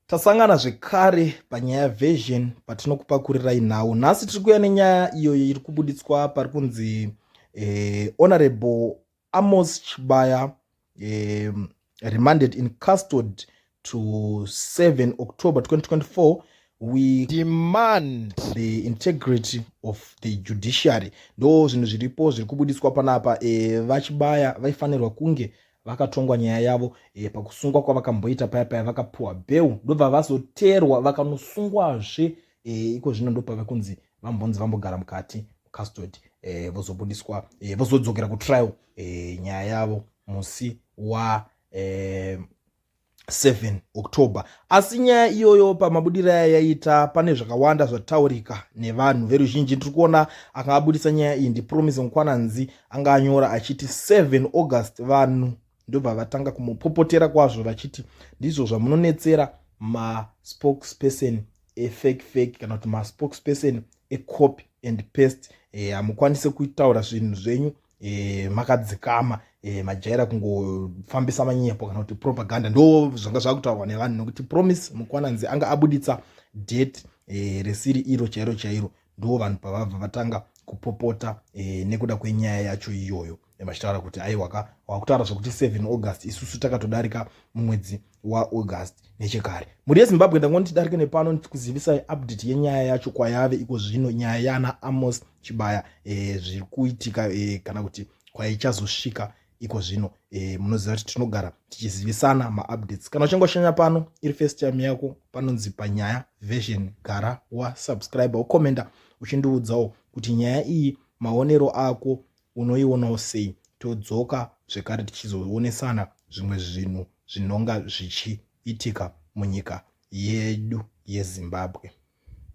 tasangana zvekare panyaya version patinokupakurirai nhau nhasi tiri kuya nenyaya iyoyo iri kubuditswa pari kunzi eh, honorable amos chibaya eh, remanded in custod to 7 october 2024 we demand the integrity of the judiciary ndo zvinhu zviripo zviri kubudiswa panapa e, vachibaya vaifanirwa kunge vakatongwa nyaya yavo e, pakusungwa kwavakamboita paya paya vakapuwa bheu ndobva vazoteerwa vakanosungwazve e, iko zvino ndopave kunzi vambonzi vambogara mukati custody e, eh, vozobudiswa e, vozodzokera kutrial e, nyaya yavo musi wa e, 7 october asi nyaya iyoyo pamabudiro aya yaita pane zvakawanda zvataurika nevanhu veruzhinji ndiri kuona anga abudisa nyaya iyi ndipromise mukwananzi anga anyora achiti 7 august vanhu ndobva vatanga kumupopotera kwazvo vachiti ndizvo zvamunonetsera maspokesperson efake fake kana kuti maspokesperson ecopi and pest eh, hamukwanise kutaura zvinhu zvenyu e, makadzikama e, majaira kungofambisa manyepo kana kuti propaganda ndo zvanga zvakutaurwa nevanhu nokuti promise mukwananzi anga abuditsa date e, risiri iro chairo chairo ndo vanhu pavabva vatanga kupopota e, nekuda kwenyaya yacho iyoyo vachitaura kuti aiwaka wakutaura zvekuti 7 august isusu takatodarika mumwedzi waaugust nechekare mhuri yezimbabwe ndangoni tidarike nepano ndikuzivisai update yenyaya yacho kwayave iko zvino nyaya yaana amos chibaya e, zviri kuitika e, kana kuti kwaichazosvika iko zvino e, munoziva kuti tinogara tichizivisana maupdates kana uchinge washanya pano iri first time yako panonzi panyaya version gara wasubscribe ukomenda uchindiudzawo kuti nyaya iyi maonero ako unoionawo sei todzoka zvekare tichizoonesana zvimwe zvinhu zvinonga zvichiitika munyika yedu yezimbabwe